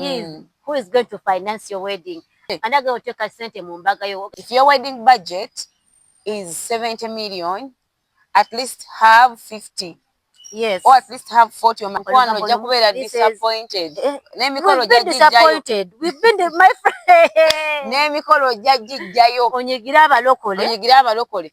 is mm. who is going to finance your wedding and again oteka sente mu mbaga yo if your wedding budget is 70 million at least have 50 yes or at least have 40 or mkwano ojja kubeera disappointed eh, n'emikolo ojja gijjayo n'emikolo ojja gijjayo onyigire abalokole onyigire abalokole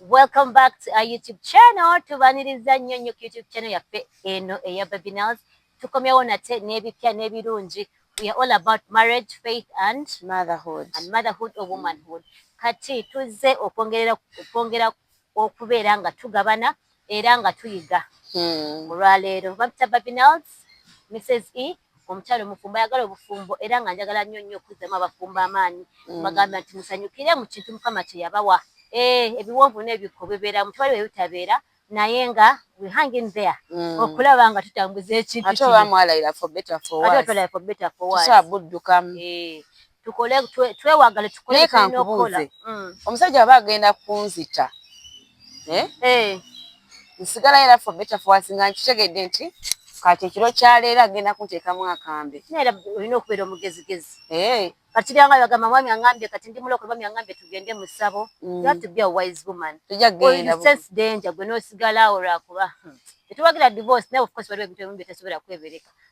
Welcome back to our YouTube channel. Tubaniriza nnyo nnyo ku YouTube channel yaffe eno eya Baby Nails. Tukomyewo nate n'ebipya n'ebirungi. We are all about marriage, faith and motherhood. And motherhood or womanhood. Kati tuzze okwongera okwongera okubeera nga tugabana era nga tuyiga olwaleero. Babita Babinels, Misses E, Omukyala omufumbo ayagala obufumbo era nga njagala nnyo nnyo okuzzamu abafumbo amaanyi mbagamba nti musanyukire mu kintu Mukama kye yabawa. Eeh ebiwonvu n'ebikko bibeera mu tewali we bitabeera naye nga we hang in there okulaba nga tutambuza ekintu kino. Ate oba mwalayira for better for worse tetusobola kuddukamu. tukole twewagale tukole naye kankubuuze mm. omusajja aba agenda kunzita eh? eh. nsigala era fo beta fowasi nga nkitegedde nti kati ekiro kyaleero agenda kunteekamu akambe naera olina okubeera omugezigezi eh. kati byanga bagamba mwami angambye kati ndi mulokole mwami angambye tugende mu ssabo mm. you have to be a wise woman tujja kugenda sense danger gwe n'osigala awo lwakuba hmm. tetuwagira divorce naye of course waliwo ebintu ebimu bye tesobola kwebereka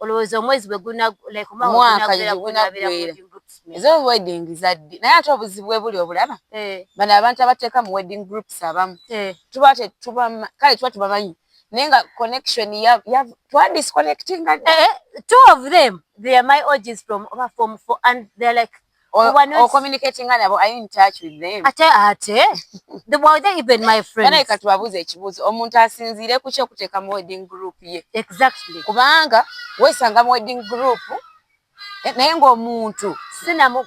olowooza omwezi bwe gunamwaka gwegunaggwera eza wedding zaddi naye ate obuzibu bwe buli obulaba eh. bano abantu abateeka mu wedding groups abamu eh. tuba tetuba kale tuba tubamanyi naye nga connection ya ya twa disconnecting eh, two of them they are my orgies from over form four and they are like katubabuuza ekibuuzo omuntu asinziire kuki okuteeka mu wedding group ye kubanga wesanga mu wedding group eh, naye ngaomuntu sinamu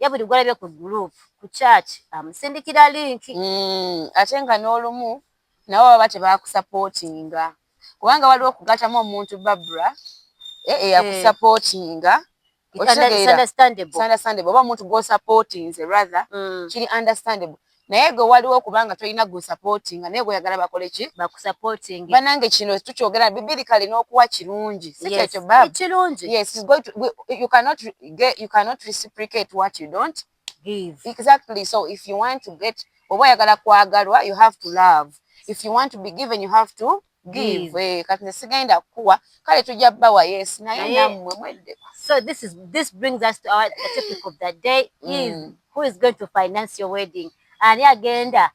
ye buli gwalabye ku group ku church amusindikira link mm, ate nga n'olumu nabo baba tebakusapotinga kubanga waliwo okugatamu omuntu babra eh, eyakusapotinga eh. oba omuntu gwosapotinze rather mm. kiri understandable naye gwe waliwo kubanga tolina gwe supportinga naye gweyagala bakole ki bakusupporting banange kino tukyogera bibiri kale n'okuwa kirungi si kyekyo bab kirungi yes is going to we, you cannot get, you cannot reciprocate what you don't give exactly so if you want to get oba oyagala kwagalwa you have to love if you want to be given you have to give eh, kati sigenda kukuwa kale tujja bawa yes naye namwe mwedde so this is this brings us to our the topic of the day is mm. who is going to finance your wedding ani agenda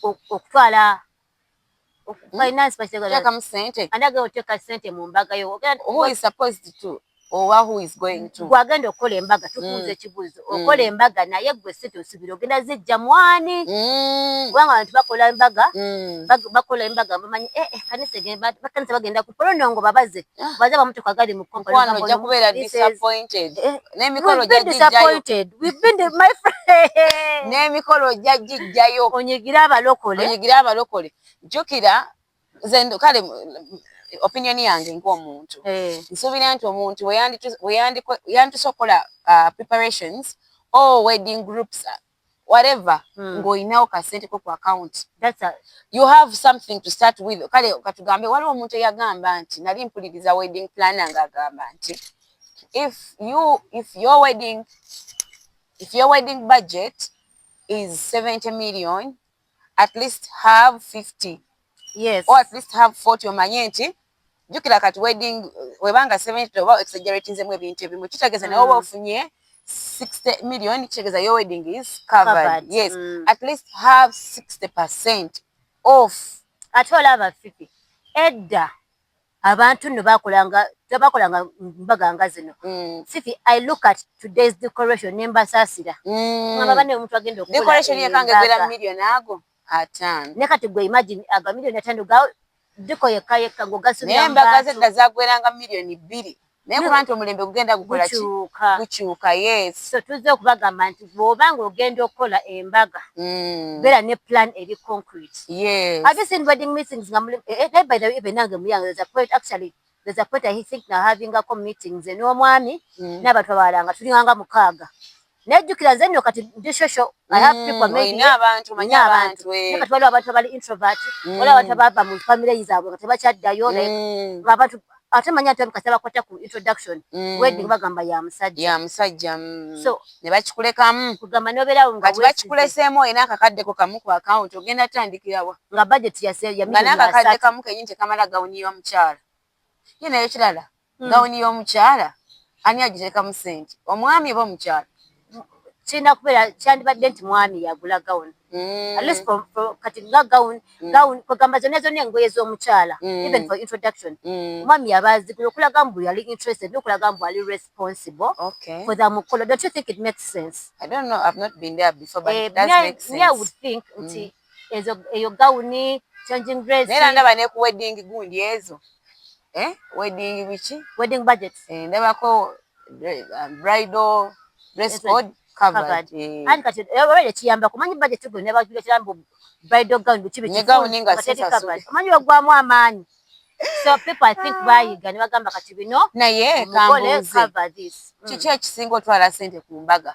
okutwala hmm? finance pakiteeka mu sente ani agenda oteeka sente mu mbaga yo who is supposed to owa who is going to gwe agenda okukola embaga tukuuza mm. ekibuuzo mm. okola embaga naye gwe sente osubira ogenda zijja mwani mm. kubanga abantu bakola embaga bakola embaga bamanyi eh, eh, kanisa bakanisa bagenda ku polonongo babaze ah. baze bamutuka agali mu kompala ojja kubeera disappointed eh, n'emikolo ojja gijjayo n'emikolo ojja gijjayo onyigire abalokole onyigire abalokole jjukira nze kale opinion yange ng'omuntu eh. nsuubira nti omuntu yandituse okukola uh, preparations or wedding groups uh, whatever hmm. ng'olinawo kasente ko ku account you have something to start with kale katugambe waliwo omuntu eyagamba nti nali mpuliriza wedding planner ng'agamba nti if you if your wedding if your wedding budget is 70 million at least have 50 yes or at least have 40 omanye nti jukira kati wedding webanga 70 oba exaggerating zemu ebintu ebimu kitegeza mm. nawe oba ofunye 60 million kitegeza your wedding is covered, covered. yes mm. at least have 60 percent off ate olaba fifi edda Abantu nno bakolanga tebakolanga mbaga nga zino. Mm. Fifi I look at today's decoration ne mbasaasira. Mm. Ngamba banne omuntu agenda okukola decoration ye kange gwera million ago atano. Ne kati gwe imagine aga million atano ga diko yekka yekka ng'ogasubira mu bantu. Naye embaga zedda zagweranga million bbiri. naye kuba nti omulembe gugenda gukolaki gukyuka yes so tuzze okubagamba nti bwoba nga ogenda okukola embaga mm. beera ne plan eri concrete yes have you seen wedding meetings nga muli eh, eh, by the way even nange muyange there's a point actually there's a point i think na having a meetings n'omwami mm. n'abantu abalala nga tulinganga mukaaga nejjukira nze nno kati ndi shosho olina abantu manyi abantu eh. kati waliwo abantu abali introvert mm. waliwo abantu abava mu famire zaabwe nga tebakyaddayo mm. abantu ate manyi ati abikasa bakwata ku introduction mm. wedding bagamba ya musajja ya musajja so ne bakikulekamu kugamba nobeerawo nga kati bakikuleseemu olina akakaddeko kamu ku akawunti ogenda tandikirawa nga budget yase ya nga n'akakadde kamu kenyini tekamala gawuniirwa mukyala ye naye kirala hmm. gawuni y'omukyala ani agiteekamu sente omwami oba omukyala kirina kubeera kyandibadde nti mwami yagula gawuni hmm. at least kati nga gawuni hmm. gawuni kwegamba zonna zonna engoye z'omukyala even for introduction omwami yaba azigula okulaga mbu yali interested nokulaga mbu ali responsible for the mukolo don't you think it makes sense i don't know i've not been there before but eh, it does make sense me i would think nti mm. ezo eyo gawuni changing dress naye ndaba ne ku wedding gundi ezo eh wedding biki wedding budget eh ndabako um, bridal dress code covered eh. and kati eh, oba ekiyamba kumanyi budget gwe ne bajula kirambo bridal gown biki biki ne gawuni nga sisa covered kumanyi ogwamu amaanyi so people i think bayiga ne bagamba kati bino naye kambuze mm. kiki ekisinga otwala sente ku mbaga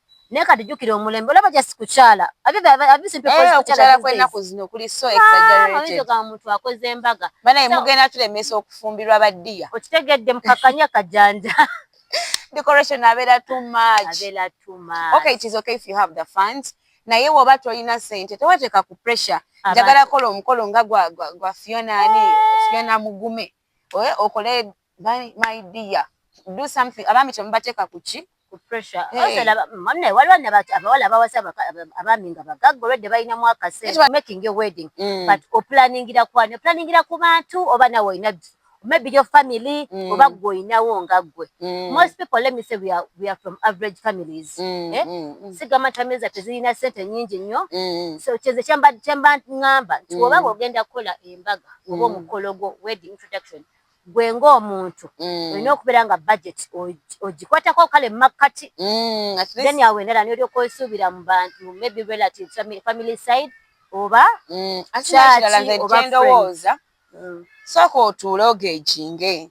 naye kati jukira omulembe olaba just kukyala kukyala kwenaku zino kuli so exaggeratedomuntu akoze embaga banaye mugenda tulemesa okufumbirwa badiya okitegedde mukakanya kajanja decoration abera too much abera too much okay it is okay if you have the funds naye woba tolina sente tewateka ku pressure njagala kola omukolo nga gwa gwa fiona ani fiona mugume oye okole my dear do something abaami temubateeka ku ki mune waliwo abawala abawasa abaami nga bagagga olwedde balinamu akaseera making a wedding mm. but opulaningira kwani opulaningira ku bantu oba nawe olina maybe your family mm. oba gwe olinawo nga gwe mm. most people let me say we are, we are from average families mm, eh? mm, mm. sigamba nti family zaffe zirina sente nyingi nnyo mm. so kyeze kyemba ŋŋamba nti mm. oba ogenda kukola embaga oba mm. omukolo gwo wedding introduction gwe ng'omuntu mm. olina okubeera nga budget ogikwatako kale mumakkati mm, then awo endala nolyoka osuubira mu bantu maybe relatives family side oba kyakiralaendowooza sooka otuule ogeginge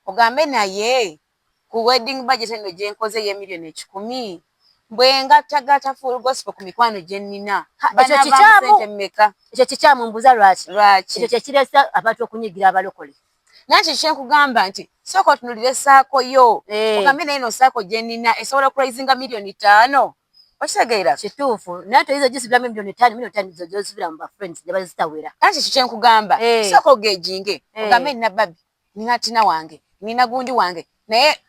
ogambe naye ku wedding budget enno gyenkoze ye million ekikumi bwengattagatta full gospel ku mikwano gyennina banavaamu sente meka? Ekyo kikyamu mbuuza lwaki? Lwaki? Ekyo kyekireese abantu okunyiigira abalokole. Naye kiki kyenkugamba nti sooka otunulire saako yo ogambe naye eno saako gyenina esobola okuraisinga million taano? Okitegeera? Kituufu naye toyinza gisibiramu million taano million taano zozisibira mu ba friends nebazitawera. Naye kiki kyenkugamba sooka ogeginge ogambe nina babi. Nina tina wange, nina gundi wange naye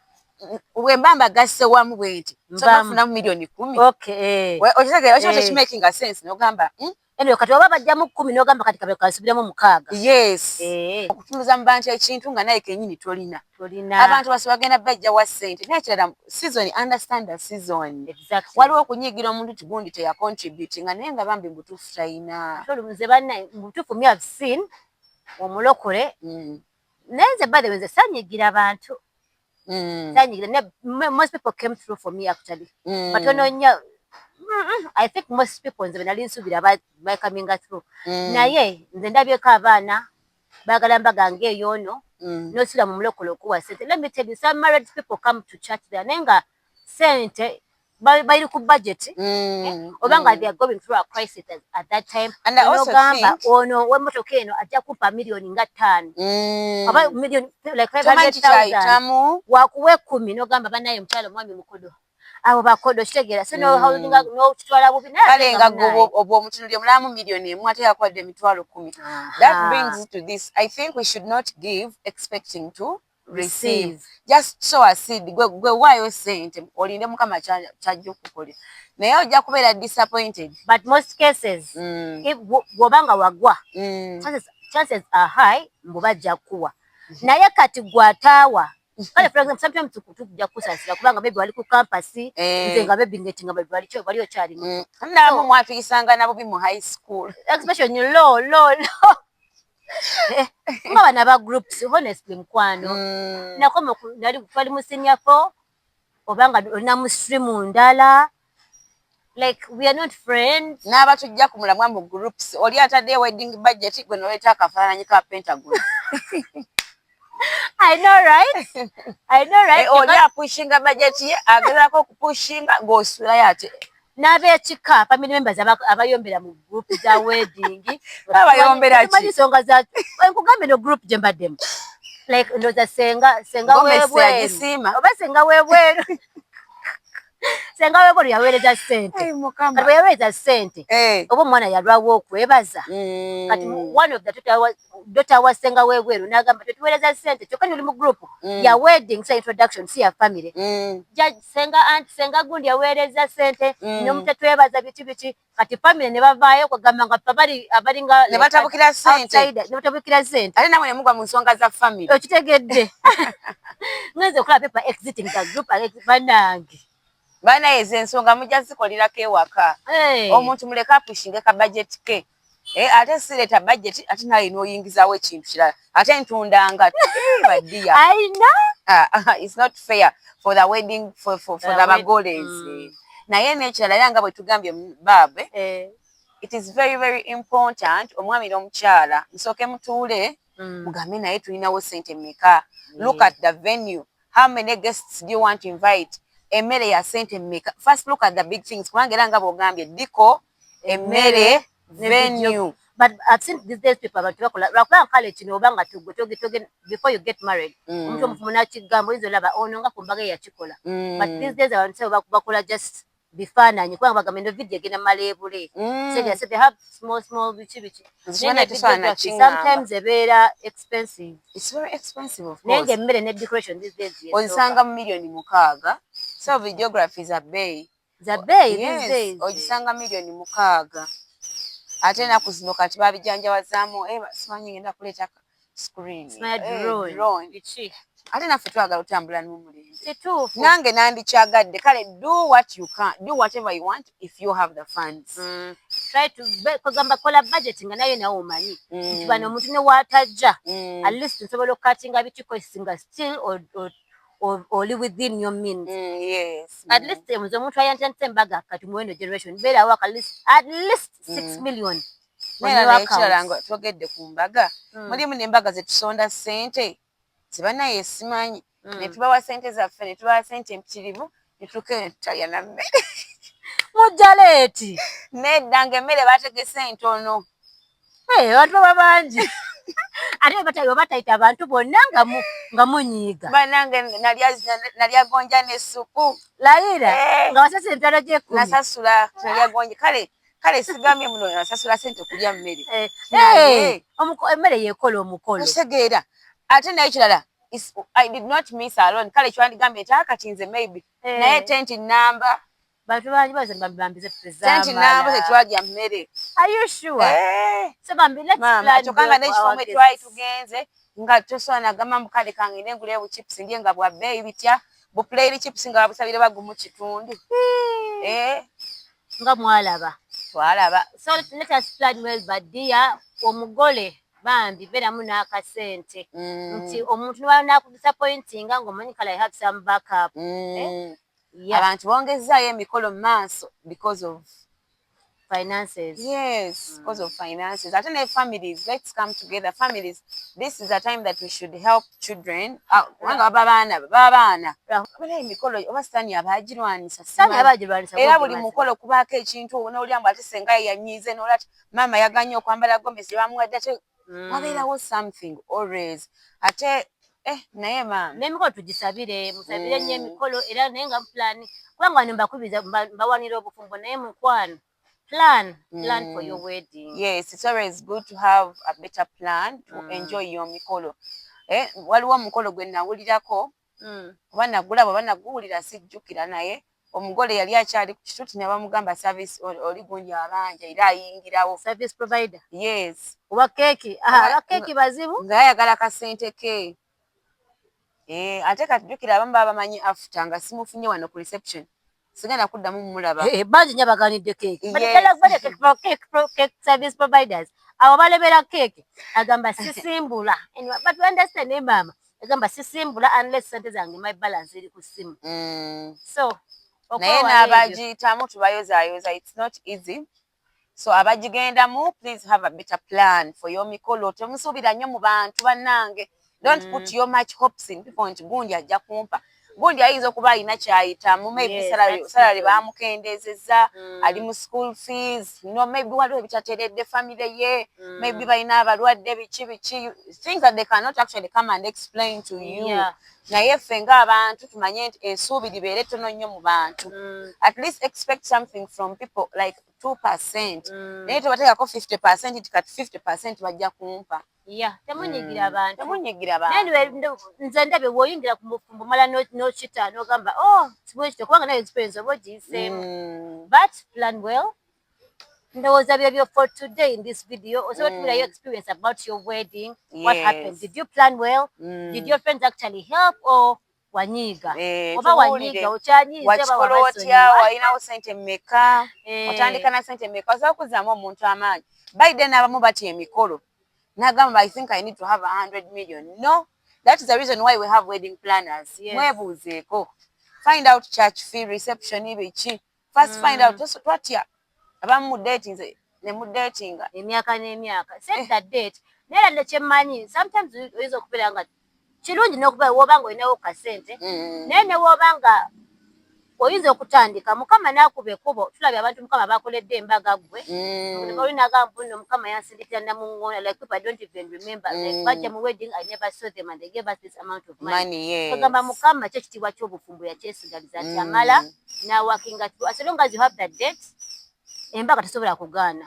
wemba mbagasse wamu bwenti sobafunamu milioni kumi eh. okitegera ekyo eh. tekimakinga sense nogamba hmm? anyway kati oba bajjamu kumi nogamba kati kabe kansubiremu mukaaga yes eh. okutuluza mu bantu ekintu nga naye kenyini tolina abantu basi bagenda bajja wa sente naye kirala season understand the season waliwo okunyigira omuntu ti gundi teyacontributinga naye nga bambi mubutuufu talina nze banna mubutuufu me have seen omulokole mm. naye nze by the way nze sanyigira bantu mm. sanyigira ne most people came through for me actually mm. but ononya i think most people nze benali nsubira by coming through mm. naye nze ndabyeko abaana bagala mbaga ngeeyo ono mm. nosula mu mulokole okuwa sente let me tell you some married people come to church there naye nga sente bali ku budget mm, oba nga mm. they are going through a crisis at that time nogamba ono wemotoka eno ajja kupa millioni nga ttaano mm. oba millioni like five hundred thousand wakuwa ekkumi nogamba banaye mukyalo omwami mukodo abo bakodo kitegeera so nohaulinga mm. nokitwala bubi kale nga obwo omutunulyo mulamu millioni emu ate yakwadde emitwalo kumi that brings to this i think we should not give expecting to receive just show a seed gwe gwe wayo sente olinde mukama kyajja okukolera naye ojja kubeera disappointed but most cases mm. if woba nga wagwa mm. chances, chances are high mbu bajja kukuwa mm-hmm. naye kati gwataawa kale for example sometimes tukujja kukusasira kubanga maybe wali ku campus eh. nze nga maybe ngetinga bali wali kyo wali okyali mu mm. nabo mwatuyisanga nabo bi mu high school especially low low low kuba bana ba groups honestly mukwano mm. nakoma nali twali mu senior four oba nga olina mu stream ndala like we are not friends n'abatujja ku mulamwa mu groups oli atadde wedding budget gwe noleeta akafaananyi ka pentagon I know right. I know right. Eh, Oja pushinga budget ye agala ko pushinga go sula yate. Nabe chika family members abayombera mu group za wedding. Abayombera chi. Mali songa za nkugambe no group jemba dem. Like ndo za senga senga wewe. Oba senga wewe. senga webolo yaweereza sente kati weyaweereza sente eh. oba omwana yalwawo okwebaza mm. kati one of the two dota wa senga webweru nagamba tetuwereza sente kyoka nuli mu group mm. ya wedding sa introduction si ya family mm. ja senga aunt senga gundi yawereza sente mm. no mutetwebaza bichi bichi kati family ne bavayo ko gamba nga pabali abali nga ne batabukira sente ne batabukira sente ali namwe ne mugwa mu nsonga za family okitegedde ngeze kula pepa exiting the group ale banange bana ezo ensonga mujja zikolirako ewaka hey. omuntu muleka apushinge ka budget ke Eh, ate sireta budget ate naye noyingizawo ekintu kirala ate ntundanga badiya aina ah, ah, ah, it's not fair for the wedding for, for, for the bagoles mm. naye nekirala era nga bwetugambye baabe eh. it is very very important omwami nomukyala musooke mutuule mm. mugambe naye tulinawo sente meka look at the venue how many guests do you want to invite emmere ya sente meka first look at the big things kubanga era nga bwogambye diko emmere venue but I've seen these days people abantu bakola lwakuba kale kino oba nga tugwe toge toge before you get married mm. omuntu omufumu nakigamba oyinza olaba ono nga ku mbaga eyakikola mm. but these days abantu sebo bakola just bifaananyi kubanga bagamba eno vidiyo egenda mala ebule mm. so they have small small biki biki sometimes ebeera expensive naye nga emmere ne decoration these days onsanga mu millioni mukaaga so videography za bbeeyi Zabeeyi these days ogisanga million mukaaga ate enaku zino kati babijanjawazaamu eh, simanyi ngenda kuleeta screen eh, drone ate naffe twagala otambula nomulembe nange nandikyagadde kale do what you can do whatever you want if you have the funds mm. kwegamba kola budget nga naye nawe omanyi mm. nti bano omuntu newatajja mm. at least nsobola okukatinga bitiko singa still or, or, oli within your means mm, yes at least eh, mze omuntu ayantandise embaga kati muwendo generation beerawo at least at least mm. six million ekirala nga twogedde ku mbaga mm. mulimu nembaga zetusonda sente zebanaye esimanyi netubawa sente zaffe netubawa sente empitirivu etuka etaya na mmere mujja leeti nedda nga emmere bategese entono abantu baba bangi ate batayo batayita abantu bonna nga mu nga munyiiga banange nalya nalya gonja ne supu layira eh. nga wasasa emitwalo gy'ekkumi nasasula nalya gonja kale kale sigambye muno nasasula sente okulya mmere eh. Eh. emmere yekola omukolo otegeera ate naye kirala is, I did not miss alone kale kyandigambye nti ah, kati nze maybe eh. naye tenti namba bantu bangi baze bambize tenti namba tetwalya mmere are you sure eh. so bambi let's plan mama tokanga ne kifo mwe twali tugenze nga toswa na gama mukale kange ne ngule bu chips ndiye nga bwa bay bitya bu play li chips nga busabire bagumu kitundu hmm. eh nga mwalaba twalaba so let us plan well but dear omugole Bambi beramu nakasente nti omuntu nebwaba naku disappointinga nga omanyi kale i have some back up yeah. Abantu bongezzaayo emikolo mu maaso because of finances yes mm. because of finances ate ne families let's come together families this is a time that we should help children ah, kubanga baba baana baba baana obeera emikolo oba sitaani aba agirwanyisa era buli mukolo kubaako ekintu onoolya mbu ate senga yanyiize noolati maama yaganye okwambala gomesi gyebamuwadde ate mm. wabeerawo something always ate eh naye maama nemikolo tugisabire musabire nnyo mm. emikolo era naye nga plan kubanga wano mbakubiza mbawanira obufumbo naye mukwano plan plan mm. for your mm. wedding yes it's always good to have a better plan to mm. enjoy your mikolo eh waliwo omukolo gwe nawulirako mm. oba nagulaba oba naguwulira sijjukira naye omugole yali akyali ku kituti ne bamugamba service oli gundi abanja era ayingirawo service provider yes oba keeki ah, aba keeki bazibu nga ayagala kasente ke eh, ate katujjukira abamu baba bamanyi afuta nga simufunye wano ku reception sigenda kuddamu mulaba eh, bangi nyo abaganidde keeki service providers abo balebera keeki agamba sisimbula but understand ne maama agamba sisimbula unless sente zange my balance eri ku simu mm. so naye n'abagiyitamu tubayozayoza its not easy So abagigendamu please have a better plan for your mikolo. Temusuubira nnyo mu bantu bannange. Don't mm. put your much hopes in people nti gundi ajja kumpa. Gundi ayinza okuba alina kyayitamu maybe yes, salary, salary bamukendeezezza mm. ali mu school fees no maybe waliwo ebitateredde family ye mm. maybe balina abalwadde biki biki things that they cannot actually come and explain to you yeah. naye ffe ng'abantu tumanye nti ensuubi libeere ttono nnyo mu bantu mm. at least expect something from people like two percent mm. naye tobateekako fifty percent nti kati fifty percent bajja kumpa ya temunyigira mm. abantu temunyigira abantu nze ndabye woyingira ku mufumbo mala nokita nogamba o oh, sibwekito kubanga naye nzipeyinza oba ogiyiseemu but plan well ndowooza byebyo for today in this video osobola mm. tubirayo experience about your wedding yes. what happened did you plan well mm. did your friends actually help or wanyiiga eh, oba wanyiiga okyanyiizewakikola otya walinawo sente meka eh. otandika na sente meka osobola kuzamu omuntu amaanyi biden abamu batya emikolo nagamba i think i need to have a hundred million no that is the reason why we have wedding planners mwebuuzeeko find out church fee reception biki first find out mm. twatya abamu mu dating ne mu dating emyaka n'emyaka set eh. the date naye ladde kyemmanyi sometimes oyinza okubeera nga kirungi nokuba woba nga olinawo kasente mm. naye newoba nga oyinza okutandika mukama nakuba ekubo tulabye abantu mukama bakoledde embaga gwe mm. olinagambu no mukama yansindikira namuŋona like people i don't even remember mm. like baja mu wedding i never saw them and they gave us this amount of money ogamba mukama kyo kitiibwa kyobufumbo yakyesigaliza nti amala mm. na working at as long as you have the date embaga tesobola kugaana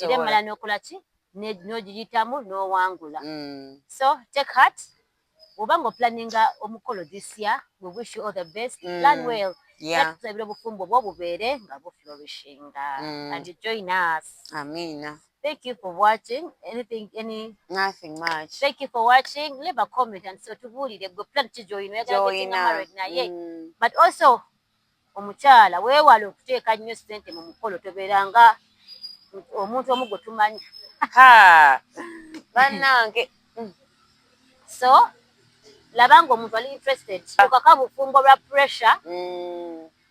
era emala nokola ki nogiyitamu nowangula mm. so take heart oba nga oplaninga omukolo this year we wish you all the best mm. plan well tusabira obufumbo bwo bubeere nga buflourishinga mm. and join us amina Thank you for watching. Anything, any? Nothing much. Thank you for watching. Leave a comment and so tubuulire gwe plan ki joyina oyagala getinga married naye mm. but also omukyala weewale okuteeka nnyo sente mu mukolo tobeera nga omuntu omu gwe tumanyi bannange mm. so laba nga omuntu ali interested okaka bufumbo lwa pressure mm.